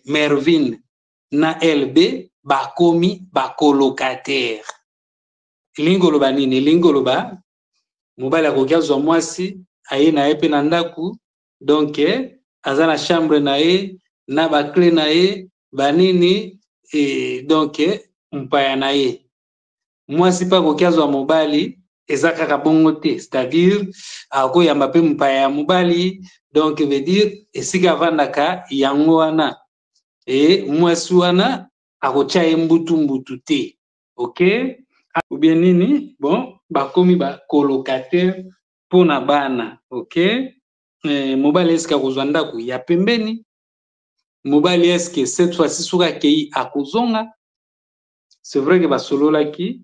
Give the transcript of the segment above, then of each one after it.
Mervin na LB bakomi ba colocataire. Elingi koloba nini? Elingi koloba mobali akoki azwa mwasi aye na ye mpe na ndako donc eh, aza na chambre na ye na baclé na ye banini eh, donc eh, mpaya na ye mwasi mpe akoki azwa mobali eza kaka bongo te c'est-à-dire akoyamba mpe mopaya ya mobali donc veut dire esika avandaka yango wana e mwasi wana akotya ye mbutu mbutu te ok obie nini bon bakomi bacolocataire mpo na bana ok e, mobali eske akozwa ndako ya pembeni mobali eske cette fois-ci soki akei akozonga c'est vrai que basololaki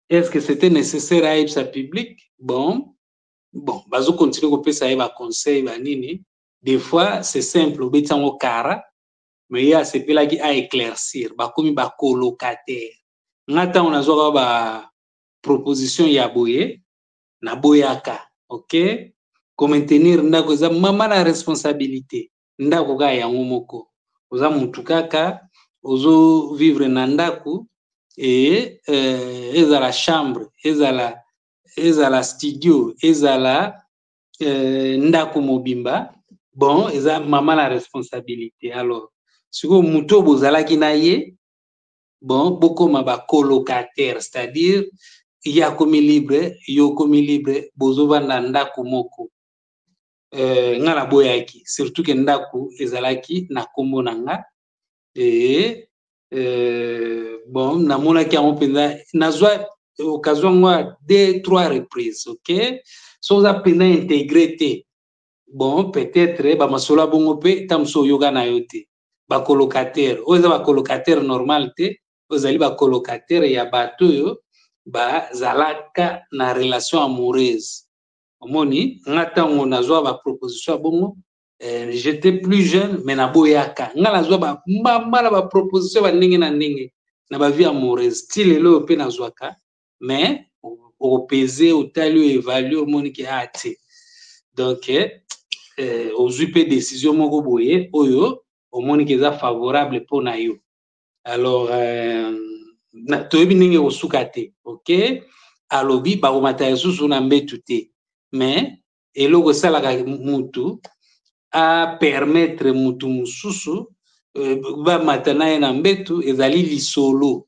est ce que c'était nécessaire ayebisa public bon bon bazo continue kopesa ye baconseil banini des fois c'est simple obeti yango kara mais ye asepelaki a éclaircir bakomi bacolocataire nga ntango nazwaka ba proposition ya boye naboyaka ok komaintenir ndako eza mama na responsabilité ndako kaka yango moko oza mutu kaka ozo vivre na ndako e euh, ezala chambre ezala ezala studio ezala euh, ndako mobimba bon eza mama na responsabilité alors sikoyo moto oyo bozalaki na ye bon bokoma bacolocataire c'est-à-dire ye akomi libre yo okomi libre bozovanda ndako moko eh, nga naboyaki surtout ke ndako ezalaki na kombo na nga e eh, bon namonaki yango mpenza nazwa occasion yango ya deux trois reprises ok so oza mpenza integre te bon peut-être bamasolo ya bongo mpe ta mosusu oyoka na yo te bacolocataire oyo eza bacolocataire normal te ozali bacolocataire ya bato oyo bazalaka na relation amoureuse omoni nga ntango nazwa baproposition ya bongo eh, j'étais plus jeune mais naboyaka nga nazwa bambambala baproposition ba ndenge na ndenge na bavie amoureuse ti lelo oyo mpe nazwaka mais opese otali oyo evalue omoni ke ah te donc eh, eh, ozwi mpe décision moko boye oyo omoni ke eza favorable mpo na yo alors euh, toyebi ndenge ekosuka te ok alobi bakomata lisusu na mbetu te mais eloko esalaka mutu apermettre mutu mosusu euh, bamata na ye na mbetu ezali lisolo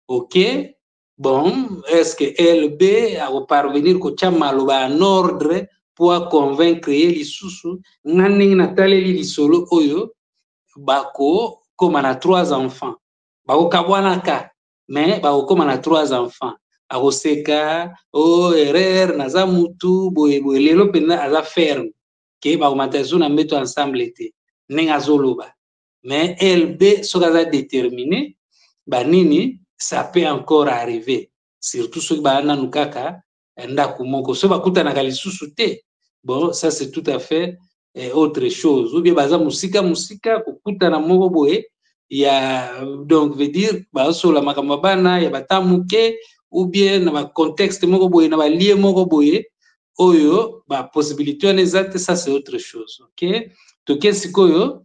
ok bon est ce que lb akoparvenir kotya maloba ya nordre mpo aconvaincre ye lisusu nga ndenge nataleli lisolo oyo bakokoma na trois enfants bakokabwanaka me bakokoma na trois enfants akoseka o oh, erreur naza mutu boye boye lelo mpenza aza ferme ke bakomata lisusu na mbeto ensemble te ndenge azoloba mais lb soki aza détermine banini ça peut encore arriver surtout soki baa nanu kaka ya ndako moko so bakutanaka lisusu te bon ça c'est tout à fait eh, autre chose ou bien baza mosika mosika kokutana moko boye ya donc veut dire bazosola makambo ya bana ya bata moke ou bien na bacontexte moko boye na balie moko boye oyo bapossibilité wana eza te ça c'est autre chose ok toke sikoyo